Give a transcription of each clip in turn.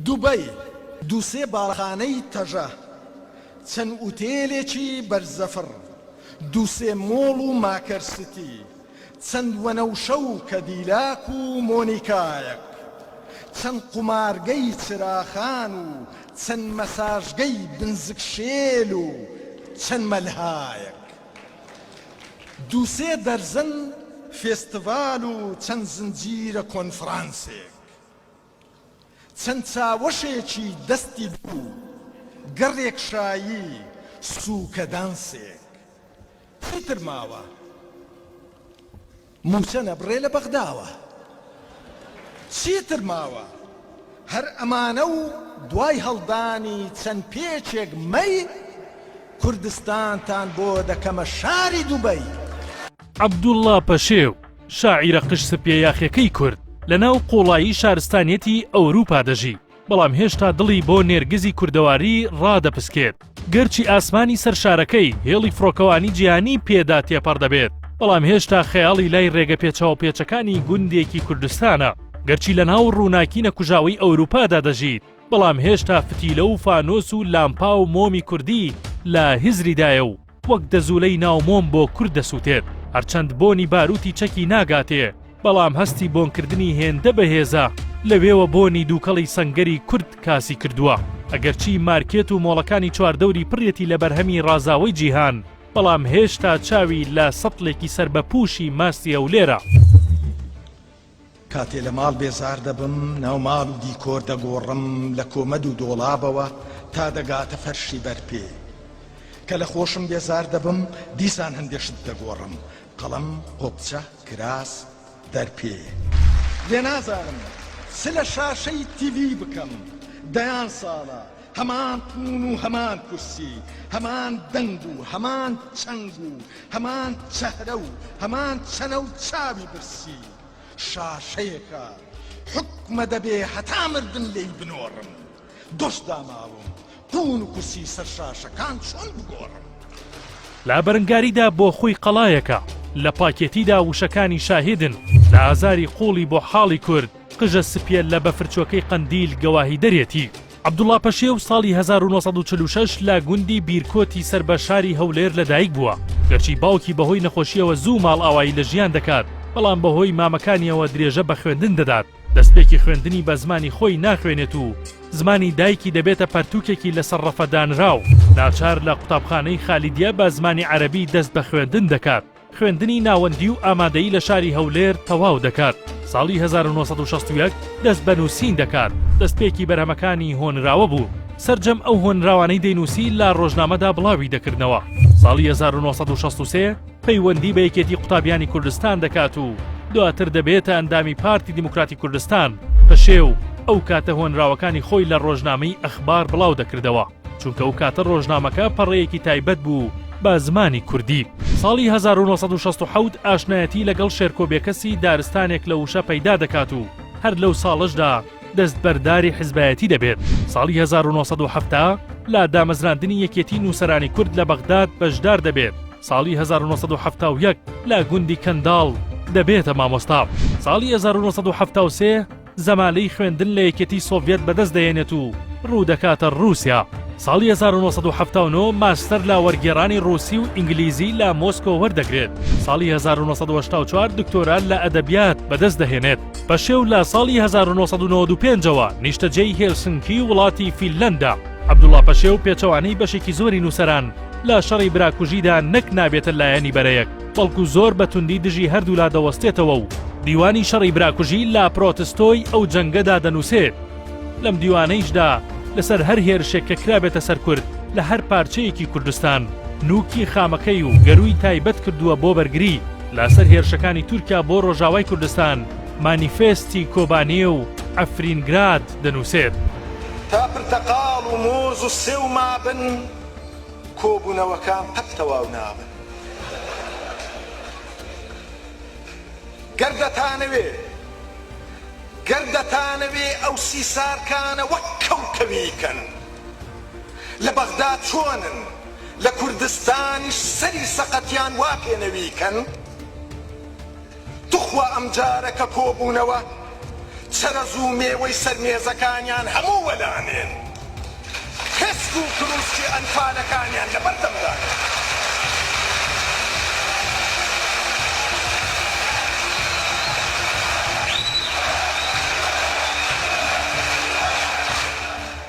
دوبەی، دوو سێ باڵەخانەی تەژە، چەند ئوتێلێکی بەرزەفڕ، دوو سێ مۆڵ و ماکەر سیتی، چەند وەنەوشە و کەدیلاک و مۆنیکایەک، چەند قومارگەی چراخان و چەند مەساژگەی بنزک شێل و چەند مەلهایەک، دوو سێ دەرزەن فێستیڤال و چەند زنجیرە کۆنفرانسێک. چەند چاوەشێکی دەستی دوو، گەڕێک شایی، سووکەدانسێک. چیتر ماوە؟ مووچە نەبڕێ لە بەغداوە. چیتر ماوە؟ هەر ئەمانە و دوای هەڵدانی چەند پێچێک مەی، کوردستانتان بۆ دەکەمە شاری دوبەی. عەبدوڵڵا پەشێو، شاعیرە قژ سپیە یاخیەکەی کورد، لە ناو قوڵایی شارستانیەتی ئەوروپا دەژی، بەڵام هێشتا دڵی بۆ نێرگزی کوردەواری ڕادەپسکێت، گەرچی ئاسمانی سەر شارەکەی هێڵی فڕۆکەوانی جیهانی پێدا تێپەڕ دەبێت، بەڵام هێشتا خەیاڵی لای ڕێگە پێچاو پێچەکانی گوندێکی کوردستانە، گەرچی لە ناو ڕووناکی نەکوژاوەی ئەوروپادا دەژیت، بەڵام هێشتا فتیلە و فانۆس و لامپا و مۆمی کوردی لە هزریدایە و، وەک دەزوولەی ناو مۆم بۆ کورد دەسووتێت، هەرچەند بۆنی بارووتی چەکی ناگاتێ، بەڵام هەستی بۆنکردنی هێندە بەهێزە، لەوێوە بۆنی دووکەڵی سەنگەری کورد کاسی کردووە. ئەگەرچی مارکێت و مۆڵەکانی چواردەوری پڕیەتی لە بەرهەمی ڕازاوەی جیهان، بەڵام هێشتا چاوی لە سەتڵێکی سەربەپووشی ماستی هەولێرە. کاتێ لە ماڵ بێزار دەبم ناو ماڵ و دیکۆر دەگۆڕم لە کۆمەد و دۆڵابەوە تا دەگاتە فەرشی بەر پێ کە لە خۆشم بێزار دەبم دیسان هەندێ شت دەگۆڕم قەڵەم قۆپچە کراس دەر پێ لێ نازانم چ لە شاشەی تیڤی بکەم دەیان ساڵە هەمان پوون و هەمان کورسی، هەمان دەنگ و هەمان چنگ و هەمان چەهرە و هەمان چەنە و چاوی برسی. شاشەیەکە حوکمە دەبێ هەتا مردن لێی بنۆڕم. دۆست داماوم، پوون و کورسی سەر شاشەکان چۆن بگۆڕم؟ لە بەرنگاریدا بۆ خۆی قەڵایەکە، لە پاکێتیدا وشەکانی شاهیدن، لە ئازاری قووڵی بۆ حاڵی کورد، قژە سپییە لە بەفرچۆکەی قەندیل گەواهیدەرێتی. عەبدوڵا پەشێو ساڵی هەزار و نۆ سەد و چل و شەش لە گوندی بیرکۆتی سەر بە شاری هەولێر لەدایک بووە، گەرچی باوکی بەهۆی نەخۆشییەوە زوو ماڵئاوایی لە ژیان دەکات، بەڵام بەهۆی مامەکانییەوە درێژە بە خوێندن دەدات، دەستپێکی خوێندنی بە زمانی خۆی ناخوێنێت و زمانی دایکی دەبێتە پەرتووکێکی لەسەر ڕەفە دانراو، ناچار لە قوتابخانەی خالیدیە بە زمانی عەرەبی دەست بە خوێندن دەکات. خوێندنی ناوەندی و ئامادەیی لە شاری هەولێر تەواو دەکات، ساڵی هەزار و نۆ سەد و شەست و یەک دەست بە نووسین دەکات، دەستپێکی بەرهەمەکانی هۆنراوە بوو، سەرجەم ئەو هۆنراوانەی دەینووسی لە ڕۆژنامەدا بڵاوی دەکردنەوە، ساڵی هەزار و نۆ سەد و شەست و سێ پەیوەندی بە یەکێتی قوتابیانی کوردستان دەکات و دواتر دەبێتە ئەندامی پارتی دیموکراتی کوردستان، پەشێو، ئەو کاتە هۆنراوەکانی خۆی لە ڕۆژنامەی ئەخبار بڵاو دەکردەوە. چونکە ئەو کاتە ڕۆژنامەکە پەڕەیەکی تایبەت بوو بە زمانی کوردی. ساڵی هەزار و نۆ سەد و شەست و حەوت ئاشنایەتی لەگەڵ شێرکۆ بێکەسی دارستانێک لە وشە پەیدا دەکات و هەر لەو ساڵەشدا دەستبەرداری حیزبایەتی دەبێت. ساڵی هەزار و نۆ سەد و حەفتا لە دامەزراندنی یەکێتی نووسەرانی کورد لە بەغداد بەشدار دەبێت. ساڵی هەزار و نۆ سەد و حەفتا و یەک لە گوندی کەنداڵ دەبێتە مامۆستا. ساڵی هەزار و نۆ سەد و حەفتا و سێ زەمالەی خوێندن لە یەکێتی سۆڤیەت بەدەست دەهێنێت و روو دەکاتە رووسیا. ساڵی هەزار و نۆ سەد و حەفتا و نۆ ماستەر لە وەرگێڕانی رووسی و ئینگلیزی لە مۆسکۆ وەردەگرێت. ساڵی هەزار و نۆ سەد و هەشتا و چوار دکتۆرا لە ئەدەبیات بەدەست دەهێنێت. پەشێو لە ساڵی هەزار و نۆ سەد و نەوەد و پێنج ەوە نیشتەجێی هێلسنکی وڵاتی فینلەندە. عەبدوڵا پەشێو پێچەوانەی بەشێکی زۆری نووسەران لە شەڕی براکوژیدا نەک نابێتە لایەنی بەرەیەک، بەڵکو زۆر بە توندی دژی هەردوولا دەوەستێتەوە و دیوانی شەڕی براکوژی لە پرۆتستۆی ئەو جەنگەدا دەنووسێت لەم دیوانەیشدا لەسەر هەر هێرشێک کە کرابێتە سەر کورد لە هەر پارچەیەکی کوردستان نووکی خامەکەی و گەرووی تایبەت کردووە بۆ بەرگری لە سەر هێرشەکانی تورکیا بۆ ڕۆژاوای کوردستان مانیفێستی کۆبانێ و عەفرینگراد دەنووسێت. تا پرتەقاڵ و مۆز و سێو مابن. کۆبوونەوەکان قەت تەواو نابن. گەر دەتانەوێ گەر دەتانەوێ ئەو سی سارکانە وەک کەوکەوی کەن لە بەغدا چۆنن لە کوردستانیش سەری سەقەتیان وا پێنەوی کەن. توخوا ئەم جارە کە کۆبوونەوە چەرەز و مێوەی سەر مێزەکانیان هەموو وەلانێن پێسک و کرووسکی ئەنفالەکانیان لەبەر دەمدانێن.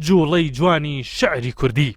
جوڵەی جوانی شعری کوردی.